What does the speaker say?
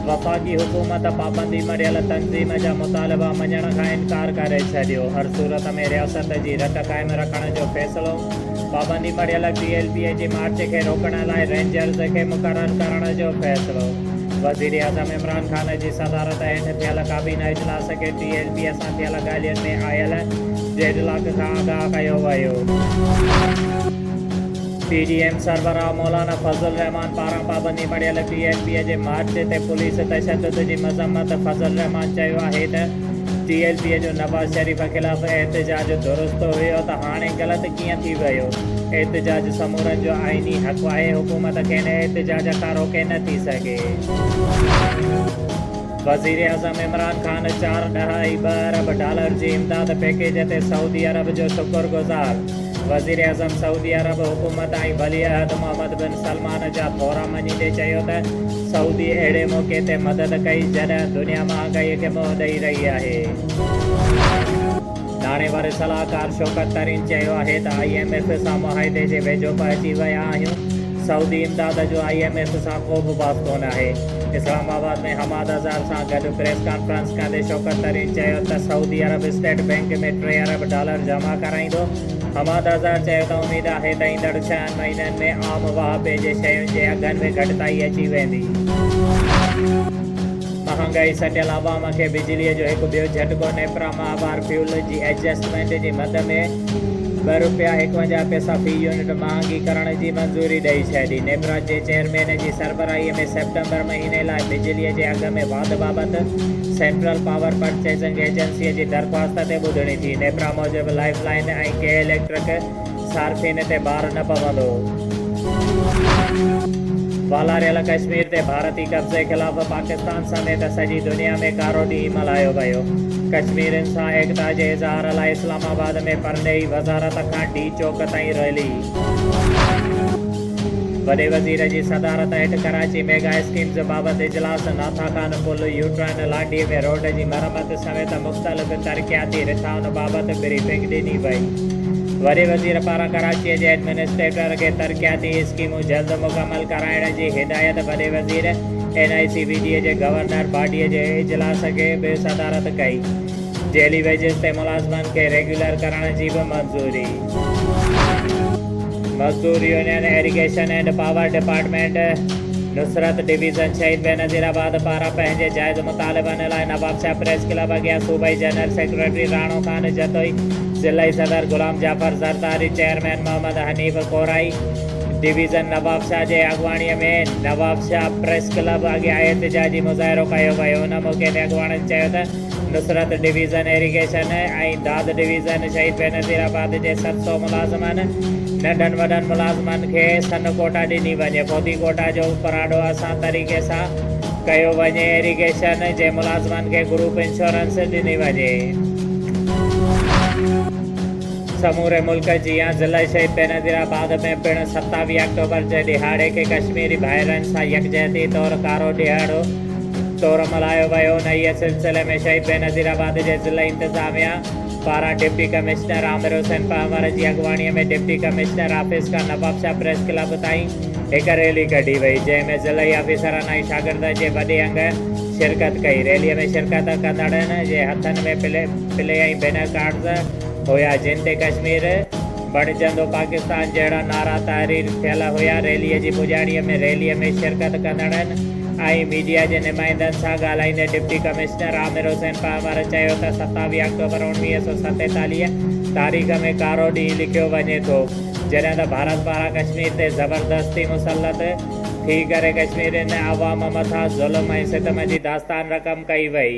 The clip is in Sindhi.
وفاقي حڪومت پابندي مڙهيل تنظيم جا مطالبا مڃڻ کان انڪار ڪري ڇڏيو. هر صورت ۾ رياست جي رٽ قائم رکڻ جو فيصلو. پابندي مڙهيل پي ايل پي اي جي مارچ کي روڪڻ لاء رينجرز کي مقرر ڪرڻ جو فيصلو. وزيراعظم عمران خان جي صدارت هيٺ ٿيل ڪابينا اجلاس کي پي ايل پي اي سان ٿيل ڳالهين ۾ آيل ڊيڊلاڪ کان آگاهه ڪيو ويو. پي ڊي ايم سربراهه مولانا فضل الرحمان پاران پابندي مڙهيل پي ايل پي جي مارچ تي پوليس تشدد جي مذمت فضل الرحمان چيو آهي ته پي ايل پي جو نواز شريف خلاف احتجاج درست هيو ته هاڻي غلط ڪيئن ٿي ويو احتجاج سمورن جو آئيني حق آهي حڪومت کين احتجاج کان روڪي نه ٿي سگهي. وزيراعظم عمران خان چار ڏهائي ٻه ارب ڊالر جي امداد پيڪيج تي سعودي عرب جو شڪر گذار، وزيراعظم سعودي عرب حڪومت ۽ ولي عهد محمد بن سلمان جا ٿورا مڃيندي چيو ته سعودي اهڙي موقعي تي مدد ڪئي جڏهن دنيا مهانگائي کي منهن ڏئي رهي آهي. ناڻي واري صلاحڪار شوڪت ترين چيو آهي ته آء ايم ايف سان معاهدي جي ويجهو به اچي ويا آهيون، سعودي امداد جو آء ايم ايف سان ڪو به باس ڪونه آهي. اسلام آباد ۾ حماد اظهر سان گڏ پريس ڪانفرنس ڪندي شوڪت ترين چيو ته سعودي عرب اسٽيٽ بينڪ ۾ ٽي ارب ڊالر جمع ڪرائيندو. حماد اظهر چيو ته اميد آهي ته ايندڙ ڇهن مهينن ۾ عام واهپي جي شين جي اگهن ۾ گهٽتائي اچي ويندي. مهانگائي سٽيل عوام کي بجلي جو هڪ ٻيو جهٽڪو نيپرا ماهوار فيول جي ايڊجسٽمينٽ جي مد ۾ ٻه رپيا ايڪونجاهه پئسا في يونٽ مهانگي ڪرڻ جي منظوري ڏئي ڇڏي. نيپرا جي چيئرمين جي سربراهي ۾ سيپٽمبر مهيني لاء بجلي جي اگهه ۾ واڌ بابت سينٽرل پاور پرچيزنگ ايجنسي جي درخواست تي ٻڌڻي ٿي. نيپرا موجب لائيف لائين ۽ ڪي اليڪٽرڪ، صارفين تي بار نه پوندو. والاريل ڪشمير تي ڀارتي قبضي خلاف پاڪستان سميت سڄي دنيا ۾ ڪارو ڏينهن ملهايو ويو. ڪشميرين سان ايڪتا جي اظهار لاء اسلام آباد ۾ پرڏيهي وزارت کان ڊي چوڪ تائين ريلي. وڏي وزير جي صدارت هيٺ ڪراچي ميگا اسڪيمز بابت اجلاس، ناٿا خان پل، يوٽرن، لاڏي ۾ روڊ جي مرمت، سميت مختلف ترقياتي رٿائن بابت بريفنگ ڏني وئي. وڏي وزير پاران ڪراچيء جي ايڊمنسٽريٽر کي ترقياتي اسڪيمون جلد مڪمل ڪرائڻ جي هدايت وڏي وزير N I C B D جي گورنر باڊيء جي اجلاس کي به صدارت ڪئي. جيلي ويجز تي ملازمن کي ريگيولر ڪرڻ جي به منظوري. مزدور union irrigation and power department Nusrat division Shaheed Benazirabad پاران پنهنجي جائز مطالبن لاء نوابشاهه پريس ڪلب اڳيان صوبائي جنرل سيڪريٽري راڻو خان جتوئي، ضلعي صدر غلام جعفر زرداري، چيئرمين محمد حنيف ڪورائي، ڊويزن نوابشاهه جي اڳواڻي ۾ نوابشاهه پريس ڪلب اڳيان احتجاجي مظاهرو ڪيو ويو، ان موقعي تي اڳواڻن چيو ته. Nusrat division irrigation ۽ Dad division Shaheed Benazir آباد جي ست سؤ ملازمن، ننڍن وڏن ملازمن کي سن ڪوٽا ڏني وڃي، پودي ڪوٽا جو اپراڏو اسان طريقي سان ڪيو وڃي، ايريگيشن جي ملازمن کي گروپ انشورنس ڏني وڃي. سموري ملڪ جيان ضلع شهيد بينظير آباد ۾ پڻ ستاويهه آڪٽوبر جي ڏهاڙي کي ڪشميري ڀائرن سان يڪجهتي طور ڪارو ڏهاڙو، طور ملهايو ويو. انهيء سلسلي ۾ شهيد بينظير آباد جي ضلعي انتظاميا پاران ڊپٽي ڪمشنر عامر حسين پنهور جي اڳواڻيء ۾ ڊپٽي ڪمشنر آفيس کان نوابشاهه پريس ڪلب تائين هڪ ريلي ڪڍي وئي، جنهن ۾ ضلعي آفيسرن ۽ شاگردن جي وڏي انگ شرڪت ڪئي. ريليء ۾ شرڪت ڪندڙن جي هٿن ۾ پلي پلي ۽ بينر ڪارڊز هيا، جن تي ڪشمير بڻجندو پاڪستان جهڙا نعرا تحرير ٿيل هيا. ريليء جي پڄاڻيء ۾ ريليء ۾ شرڪت ڪندڙن. آهي ميڊيا جي نمائندن سان ڳالهائيندي ڊپٽي ڪمشنر عامر حسين پهمر چيو ته ستاويهه آڪٽوبر اوڻويهه سؤ ستيتاليهه تاريخ ۾ ڪارو ڏينهن لکيو وڃي ٿو جڏهن ته ڀارت پاران ڪشمير تي زبردستي مسلط ٿي ڪري ڪشميرين عوام مٿان ظلم ۽ ستم جي داستان رقم ڪئي وئي.